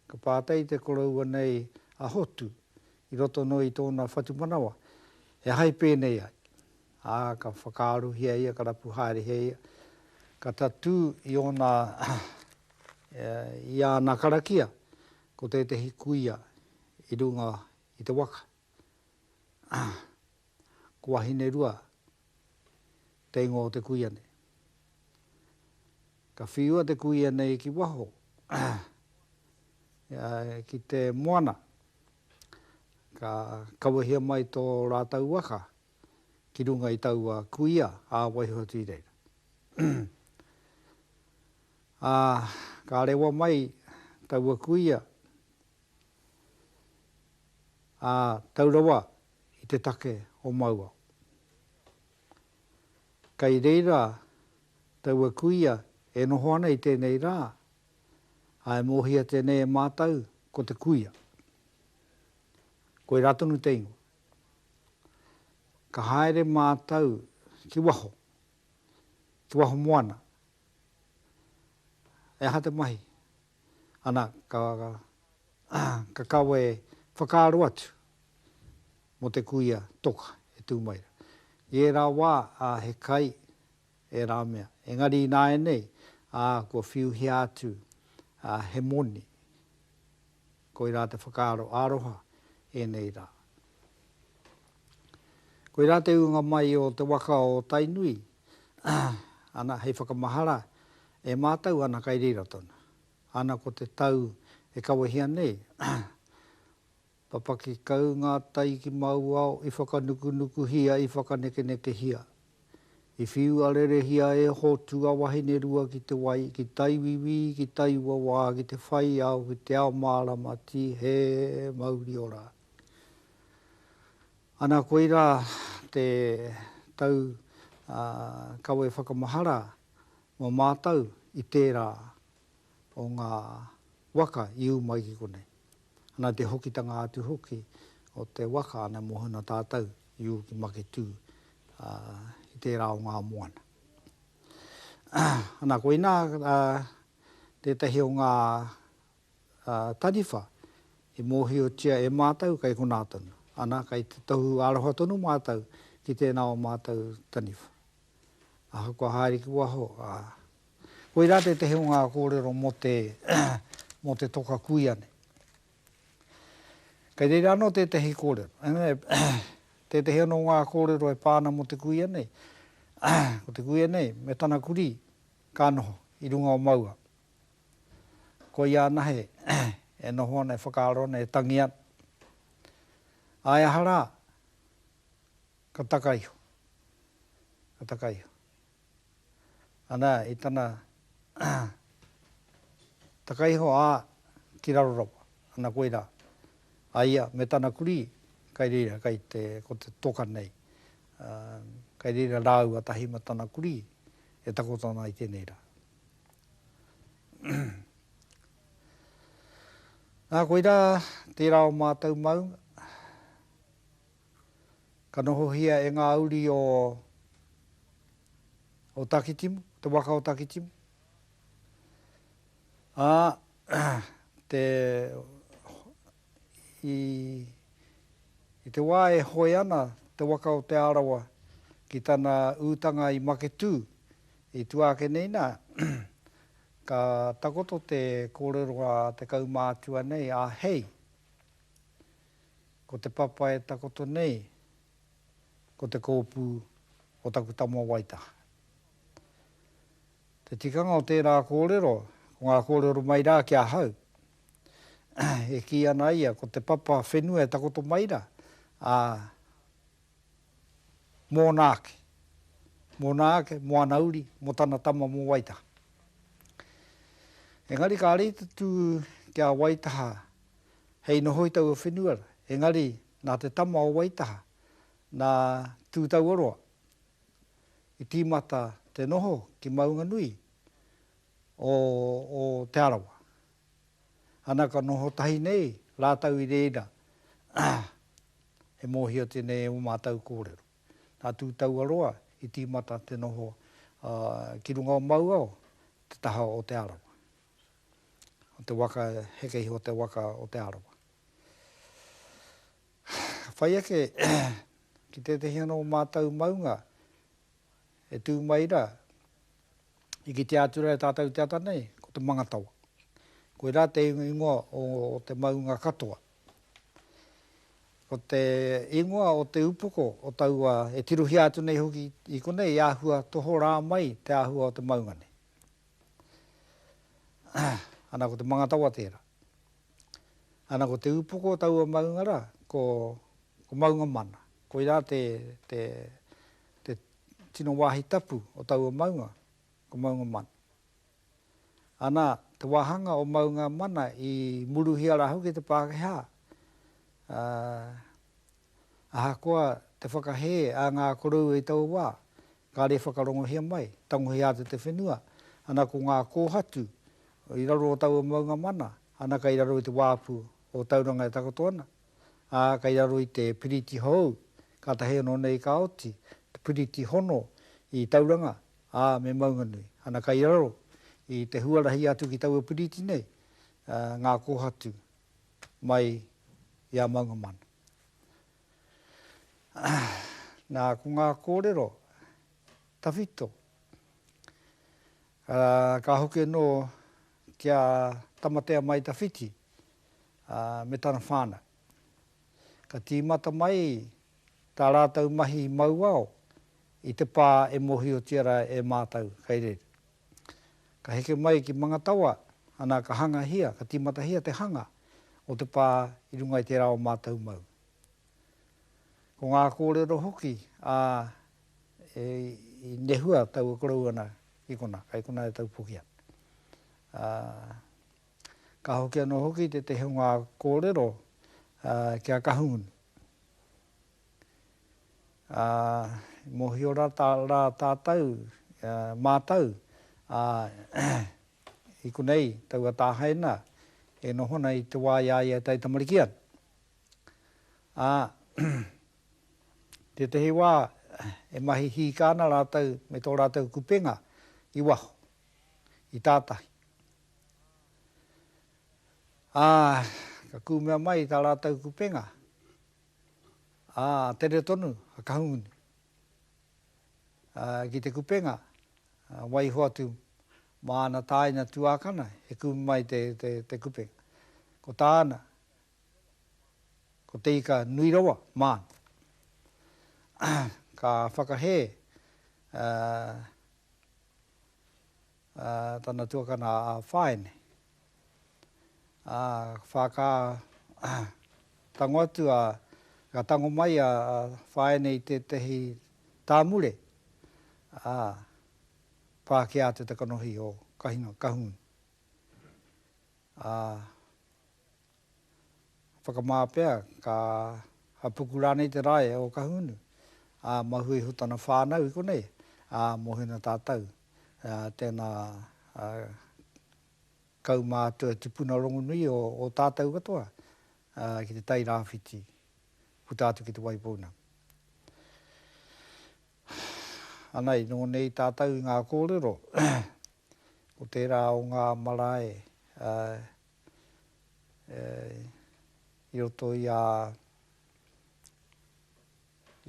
Ka pātai te koroua nei a Hotu i roto noa i tōna whatumanawa, he aha i pēnei ai, ā, ka whakaarohia ia, ka rapu haerehia ia, ka tatū i ōna, i āna karakia, ko tētehi kuia i runga i te waka. Ko Wahinerua te ingoa o te kuia nei. Ka whiua te kuia nei ki waho, ki te moana. Ka kawehia mai tō rātou waka ki runga i taua kuia ā waiho atu i reira. Ā, ka rewa mai taua kuia, ā, tau rawa i te take o Mauao. Kei reira taua kuia e noho ana i tēnei rā, ā, e mōhia tēnei e mātou ko te kuia. Koirā tonu te ingoa. Ka haere mātou ki waho, ki waho moana. He aha te mahi? Ana, ka, ka kawe whakaaro atu mō te kuia toka e tū mai rā. I ērā wā, ā, he kai ērā mea. Engari ināianei, ā, kua whiuhia atu, ā, he moni. Koirā te whakaaro aroha ēnei rā. Koirā te ūnga mai o te waka o Tainui, ana, hei whakamahara e mātou ana kai reira tonu. Ana ko te tau e kawehia nei, papaki kau ngā tai ki māu ao i whakanukunukuhia, i whakanekenekehia, I whiu arerehia e Hotu a Wahinerua ki te wai, ki taiwiwi, ki taiuawā, ki te whai ao, ki te ao mārama, tī hē, mauri ora. Ana koirā te tau kawe whakamahara mō mātou i tērā o ngā waka i ū mai ki konei. Ana te hokitanga atu hoki o te waka ana mohona tātou i ū ki Maketū i tērā o ngā moana. Ana koinā tētahi o ngā taniwha i mōhiotia e mātou kei konā tonu. Ana kei te tohu aroha tonu mātou ki tēnā o mātou taniwha. Ahakoa haere ki waho, Koirā tētehi o ngā kōrero mō te mō te toka kuia nei. Kei reira anō tētehi kōrero, tētehi anō o ngā kōrero e pā ana mō te kuia nei, ko te kuia nei me tana kurī ka noho i runga o maua. Koia anahe e noho ana, e whakaaro ana, e tangi ana. Āe aha rā, ka taka iho, ka taka iho. Ana i tana takaiho a ki raro rawa. Ana koira a ia me tana kuri kai reira kai te ko te toka nei. Kai reira raua tahi ma tana kuri e takoto ana i tenei ra. Na koira tera o matou maunga. ka nohohia e ngā uri o o Takitimu, te waka o Takitimu. Ā, te, i, i te wā e hoe ana te waka o Te Arawa ki tana utanga i Maketū, i tua ake nei nā, ka takoto te kōrero a te kaumātua nei, a Hei. Ko te papa e takoto nei, ko te kōpū o taku tama waitaha. Te tikanga o tērā kōrero, ko ngā kōrero mai rā ki ahau, e kī ana ia ko te papa whenua e takoto mai rā, ā, mōna ake, mōna ake, mō ana uri, mō tana tama mō Waitaha. Engari kāre i tatū ki a Waitaha Hei noho i taua whenua, engari nā te tama o Waitaha, nā Tūtauaroa, i tīmata te noho ki Maunganui o Te Arawa. Ana ka noho tahi nei rātou i reira e mōhio tēnei o mātou kōrero. Nā Tūtauaroa i tīmata te noho ki runga o Mauao, te taha o Te Arawa. o te waka e heke iho te waka o Te Arawa. Ka whai ake ki tētehi anō o mātou maunga e tū mai rā, i kitea atu rā e tātou te ata nei, ko te mangatawa. Koirā te ingoa o te maunga katoa. Ko te ingoa o te upoko o taua e tirohia atu nei hoki i konei, i āhua tohorā mai te āhua o te maunga nei. Ana ko te mangatawa tera. Ana ko te upoko o taua maunga ra ko maunga mana. Koira te tino wahi tapu o taua maunga ko maunga mana. Ana te wahanga o maunga mana i muruhia ra hoki te Pakeha Ahakoa te whakahē a ngā koroua i taua wā, kāre e whakarongohia mai, tangohia atu te whenua, ana ko ngā kōhatu i raro o taua maunga mana, ana kei raro i te wāpu o Tauranga e takoto ana, ā, kei raro i te piriti hou, kātahi anō nei ka oti te piriti hono i Tauranga, ā, me Maunganui, ana kei raro i te huarahi atu ki taua piriti nei ngā kōhatu mai i a maunga mana. Nā, ko ngā kōrero tawhito, ka hoki anō ki a Tamatea Mai Tawhiti me tana whānau. Ka tīmata mai tā rātou mahi mauao i te pā e mōhiotia rā e mātou kei reira. Ka heke mai ki Mangatawa, ana ka hangahia, ka tīmatahia te hanga o te pā i runga i tērā o mātou mau. Ko ngā kōrero hoki, ā, i nehua tau e korou ana ki konā, kai konā e taupoki ana. Ā, ka hoki anō hoki tētehi o ngā kōrero kia Kahungunu. Ā, i mōhio rā tātou, mātou, ā, i konei taua tāhaina e noho ana i te wā i a ia e taitamariki ana. Ā, tētehi wā e mahi hīkā ana rātou me tō rātou kupenga i waho, i tātahi. Ā, ka kūmea mai tā rātou kupenga, Ā, tere tonu a Kahungunu ki te kupenga, waiho atu mā ana tāina tuākana e kumu mai te kupenga. Ko tāna, ko Te Ika nui rawa māna. Ka whakahē a. ā, tana tuakana a Whaene. Ā, whā ka tango atu a, ka tango mai a Whaene i tētehi tāmure, ā, pākia atu te kanohi o Kahuna, Kahungunu. Ā, Whakamā pea, ka hapuku rānei te rae o Kahungunu, ā, mahue iho tana whānau i konei, ā, mohina tātou. Tēnā, kau mātua tipuna rongonui o tātou katoa ki te tai rāwhiti, puta atu ki te wai pounamu. Ana, i noho nei tātou i ngā kōrero, ko tērā o ngā marae i roto i a,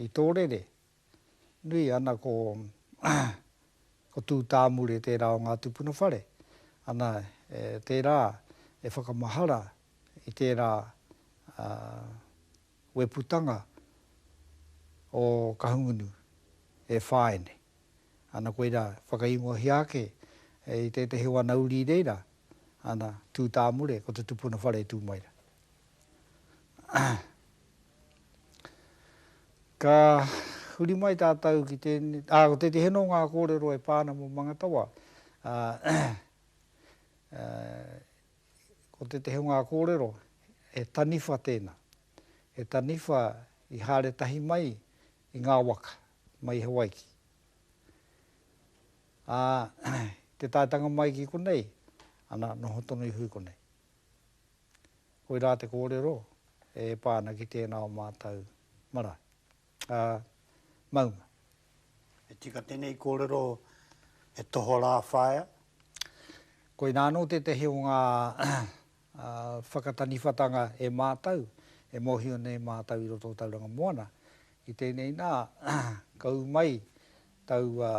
i tō rere, nui ana ko ko Tūtāmure tērā o ngā tupuna whare, ana tērā e whakamahara i tērā weputanga o Kahungunu e whāia nei. Ana koira, whakaingohia ake i tētehi o ana uri i reira, ana, tū tāmure, ko te tupuna whare e tū mai ra. Ka huri mai tātou ki tēne, ā, ko tētehi anō ngā kōrero e pā ana mō Mangatawa, ā, ko tētehi o ngā kōrero, he taniwha tēna, he taniwha i haere tahi mai i ngā waka. mai Hawaiki. Ā, i te taetanga mai ki konei, ana, noho tonu iho i konei. Koirā te kōrero e pā ana ki tēnā o mātou marae. Ā, maunga. E tika tēnei kōrero e tohorā whaea? Koinā anō tētehi o ngā ā, whakataniwhatanga e mātou, e mōhio nei mātou i roto o Tauranga Moana, i tēnei nā, ka ū mai taua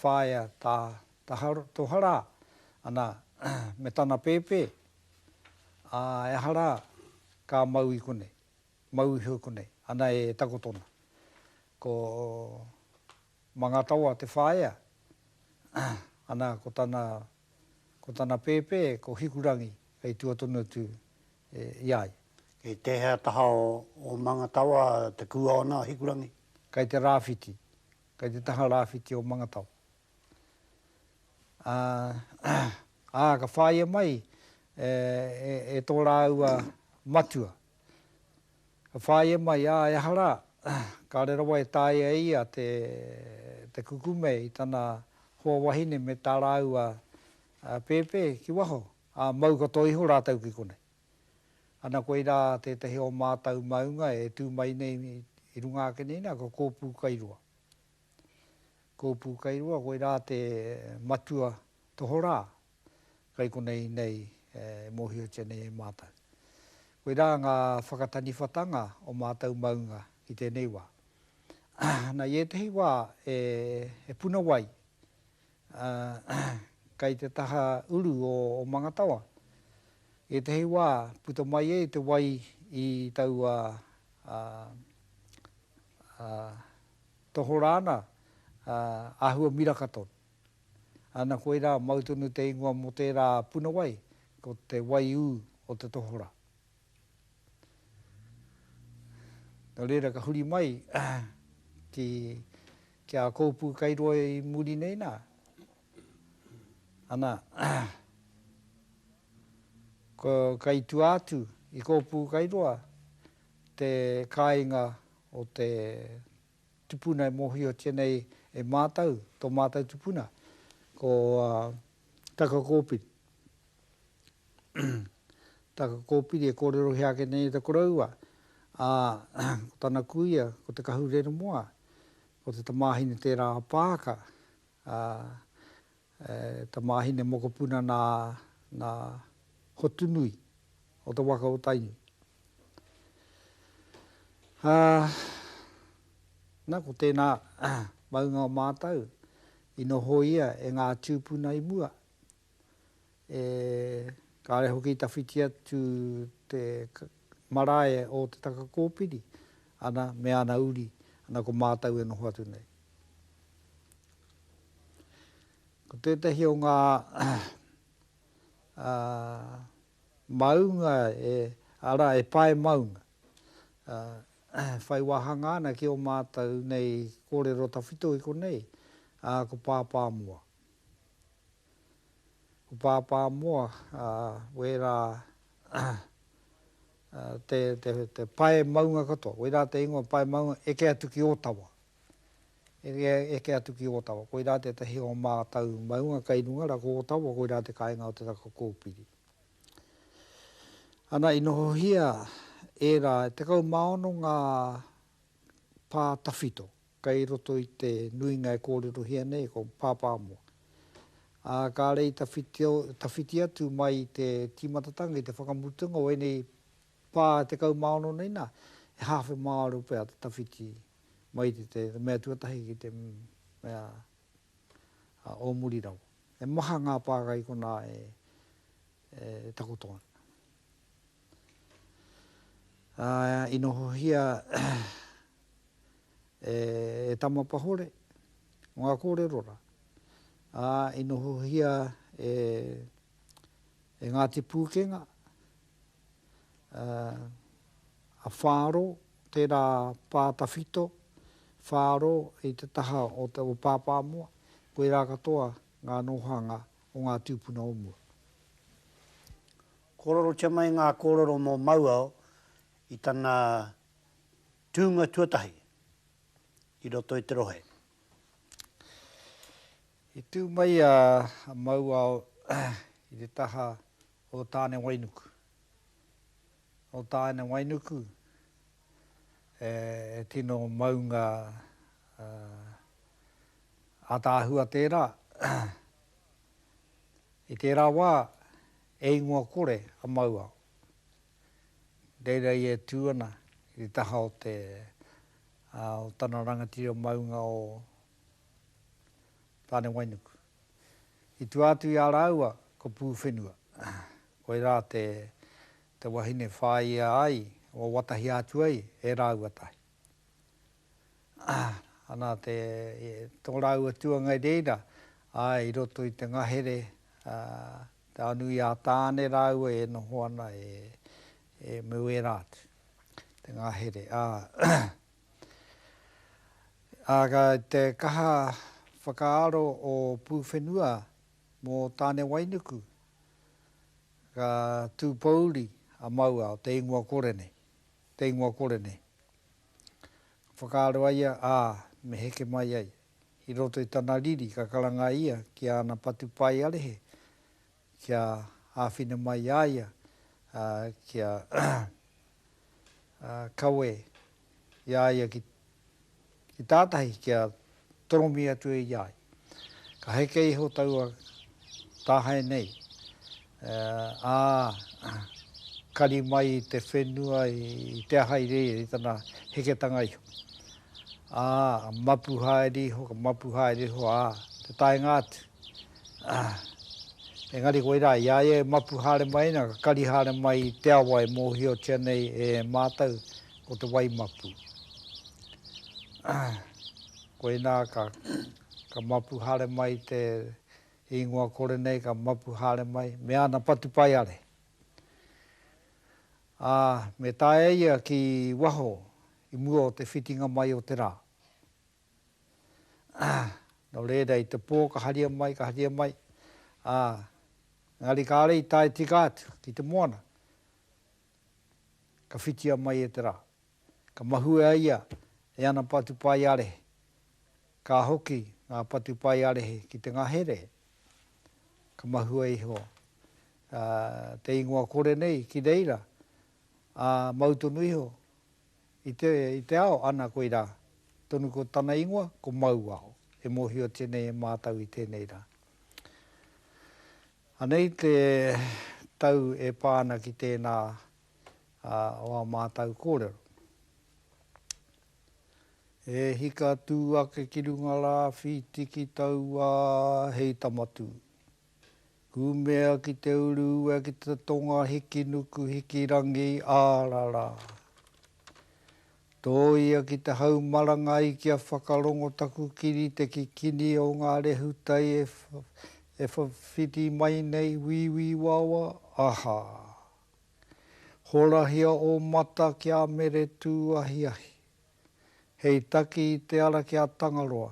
whaea tā Toha rā, ana, me tana pēpē, ā, e aha rā, ka mau i konei, mau iho i konei, ana e takoto ana. Ko. Mangatawa te whaea, ana ko tana, ko tana pēpē ko Hikurangi kei tua tonu atu i a ia. Kei tēhea taha o Mangatawa te kua ona a Hikurangi? Kei te rāwhiti, kei te taha rāwhiti o Mangatawa. Ā, ka whāia mai e tō rāua matua. Ka whāia mai, ā, ehara, kāre rawa e tāia e ia te kukume i tana hoa wahine me tā rāua pēpē ki waho, ā, mau katoa iho rātou ki konei. Ana koirā tētahi o mātou maunga e tū mai nei i runga ake nei nā, ko Kōpūkairua. Kōpūkairua, koirā te matua tohorā kai konei nei e mōhiotia nei e mātou. Koirā ngā whakataniwhatanga o mātou maunga ki tēnei wā. Na, i ētehi wā e, e puna wai, ā, kai te taha uru o, o Mangatawa, i ētehi wā puta mai ai te wai i taua, ā, ā, tohorā ana, ā, āhua miraka tonu. Ana koirā mau tonu te ingoa mō tērā puna wai, ko te waiū o te tohora. Nō reira ka huri mai ki ki a Kōpū kei roa i muri nei nā, ana ko ka i tua atu i Kōpū kei roa te kāinga o te tupuna e mōhiotia nei e mātou, tō mātou tupuna, ko Takakōpiri. Takakōpiri e kōrerohia ake nei e te koroua, ā, ko tana kuia, ko Te Kahureremoa, ko te tamāhine tērā a Pāka, ā, He tamāhine mokopuna nā, nā Hotunui o te waka o Tainui. Ā, nā, ko tēnā maunga o mātau i noho ia e ngā tūpuna i mua. E kare hoki i tawhiti atu te marae o Te Taka Kōpiri, ana, me ana uri, ana ko mātau e noho atu nei. Ko tētahi o ngā maunga e, arā, e pae maunga, whai wāhanga ana ki ō mātau nei kōrero tawhito i konei, ko Pāpāmoa. Ko Pāpā Moa, wērā te pae maunga katoa, wērā te ingoa pae maunga, eke atu ki Ōtawa. Eke atu ki Ōtawa, koirā tētahi o ngā mātau maunga kei runga rā, ko Ōtawa, koirā te kāinga o te raka kōpiri. Ana, i nohohia ērā, e tekau mā ono ngā pā tawhito, Kei roto i te nuinga e kōrerohia nei ko Pāpāmoa. Ā, kāre i tawhiti, tawhiti atu mai i te tīmatatanga, i te whakamutunga o ēnei pā 16 nei nā, he hāwhe māro pea te tawhiti mai i te, te mea tuatahi ki te mea o muri rawa. He maha ngā pāka i konā e, e takoto ana. Ā, i nohohia e Tamapahore ngā kōrero rā. Ā, i nohohia e Ngāti Pūkenga, a Whāro, tērā pā tawhito, Whāro i te taha o Pāpāmoa, koirā katoa ngā nōhanga o ngā tūpuna o mua. Kōrerotia mai ngā kōrero mō Mauao i tana tūnga tuatahi i roto i te rohe. I tū mai a Mauao i te taha o Tānewainuku. Nō Tānewainuku e tino maunga ataahua tērā. I tērā wā He ingoa kore a Mauao. Reira ia e tū ana i te taha o te, ā, o tana rangatira o maunga o Tānewainuku. I tua atu i a rāua ko Pūwhenua. Koirā te, te wahine whāia ai, wawatahia atu ai e rāua tahi. Ana te, tō rāua tuangai reira, āe, i roto i te ngahere, te ao nui a Tāne rāua e noho ana e, e Muera atu, te ngahere. Ā, ka, te kaha whakaaro o Pūwhenua mō Tānewainuku, ka tūpouri a Maua o te ingoa kore nei. te ingoa kore nei. Ka whakaaro a ia, ā, me heke mai ai. I roto i tana riri ka karanga ia ki āna patupaiarehe kia āwhina mai i a ia kia kawe i a ia ki Ki tātahi kia toromi atu e ia ai. Ka heke iho taua tāhae nei, ā, kari mai i te whenua i te aha i reira i tana heketanga iho. Ā, mapu haere iho, ka mapu haere iho, ā, te taenga atu, engari koirā, i a ia e mapu haere mai nei, ka kari haere mai i te awa e mōhiotia nei e mātou, ko te wai mapu. Koinā ka ka mapu haere mai te ingoa kore nei, ka mapu haere mai, me ana patupaiare. Ā, me taea ia ki waho i mua o te whitinga mai o te rā. Nō reira, i te pō ka haria mai, ka haria mai, ā, engari kāre i tae tika atu ki te moana. Ka whitia mai e te rā. Ka mahue a ia e ana patupaiarehe. Ka hoki ngā patupaiarehe ki te ngahere. Ka mahue iho te ingoa kore nei ki reira, ā, mau tonu iho i te, i te ao, ana koirā tonu ko tana ingoa, ko Mauao. E mōhiotia nei e mātau i tēnei rā. Anei te tau e pā ana ki tēnā o ā mātou kōrero. E hika tū ake ki runga rā, whiti ki taua hei tama tū. Kūmea ki te uru ue, ki te tonga hiki nuku, hiki rangi, ārarā. Tōia ki te hau marangai kia whakarongo taku kiri te kikini o ngā rehutai e whawhiti mai nei Wīwī wawa, aha! Horahia ō mata kia mere tū ahiahi. Hei taki i te ara ki a Tangaroa,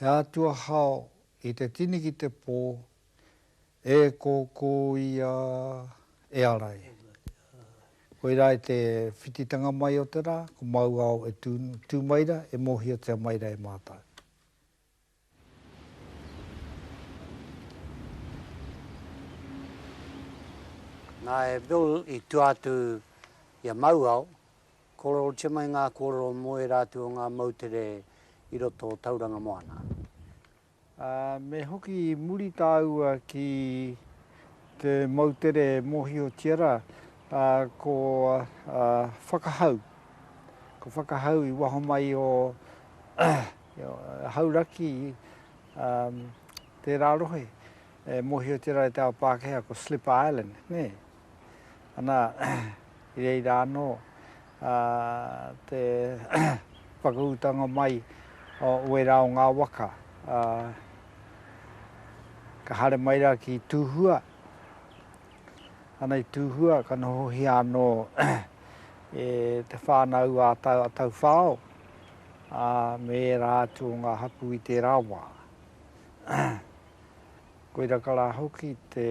he atua hao i te tini ki te pō E kōkō ia e ara e. Koirā i te whititanga mai o te rā, ko māu ao e tū mai ra, e mōhiotia mai ra e mātau. Nā, e Bill i tua atu i a māu ao, kōrerotia mai ngā kōrero mō ērā atu o ngā moutere i roto o Tauranga Moana. Ā, me hoki muri tāua ki te moutere e mōhiotia rā, ā, ko Whakahau, ko Whakahau i waho mai o Hauraki, ā, tērā rohe e mōhiotia rā e te ao Pākehā ko Slipper Island, nē? Ana, i reira anō te whakaūtanga mai o wērā o ngā waka. Ka haere mai rā ki Tūhua, ana i Tūhua ka nohohia anō e te whānau a Tauwhao me ērā atu o ngā hapū i tērā wā. Koira ka rā hoki te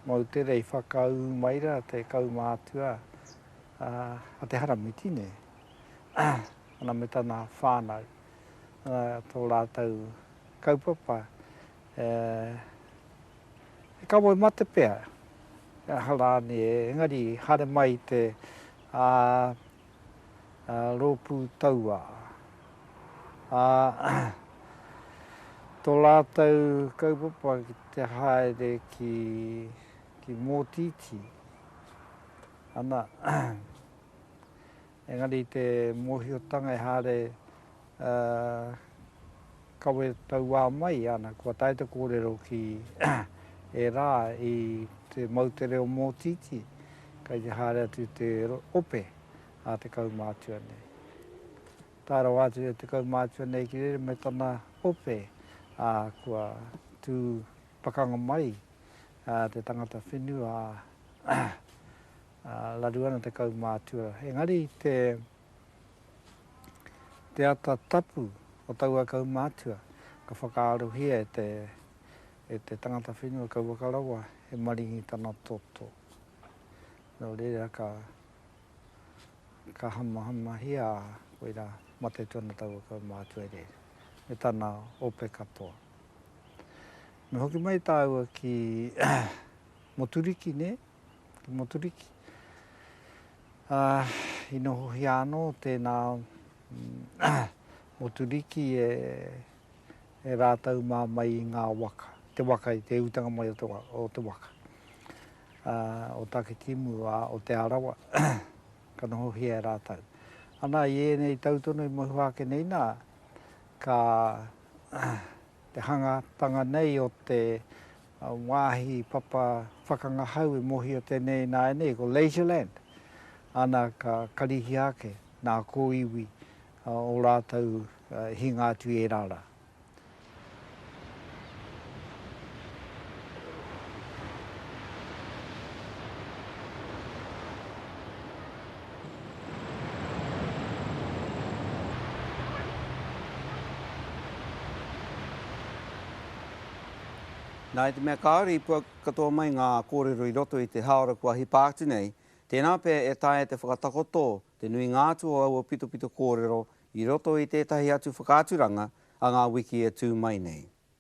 moutere i whakaū mai rā te kaumātua a Te Haramiti nei, ana me tana whānau, tō rātou kaupapa e kamoe mate pea, ehara nē, engari haere mai te rōpū tauā. Ā, tō rātou kaupapa ki te haere ki, ki Mōtītī, ana, engari te mōhiotanga ehara Ā, kawe tauā mai, ana, kua tae te kōrero ki ērā i te mau te reo mōtītī, kei te haere atu te ope a te kaumātua nei. Tae rawa atu e te kaumātua nei ki rere me tana ope, ā, kua tū pakanga mai te tangata whenua, ā, raru ana te kaumātua. Engari te. Te ata tapu o taua kaumātua ka whakaarohia e te tangata whenua kauwaka rawa he maringi tana toto. Nō reira ka hamahamahia a Wera mate atu ana taua kaumātua e rere, me tana ope katoa. Me hoki mai tāua ki Moturiki, nē? te Moturiki. I nohohia anō tēnā Moturiki e rātou mā mai i ngā waka, te waka i te utanga mai o te waka. O Takitimu, o Te Arawa, ka nohohia e rātou. Ana i ēnei tau tono i mohi wā ake nei nā, ka Te hangatanga nei o te wāhi papa whakangahau e mōhio tēnei ināianei ko Leisureland, ana ka karihia ake nā kōiwi ō rātou e hinga atu i ērā rā. Nā, i te mea kāore i puak katoa mai ngā kōrero i roto i te hāora kua hipa atu nei, tēnā pea e taea te whakatakoto te nuinga atu o aua pitopito kōrero i roto i tētahi atu whakaaturanga a ngā wiki e tū mai nei.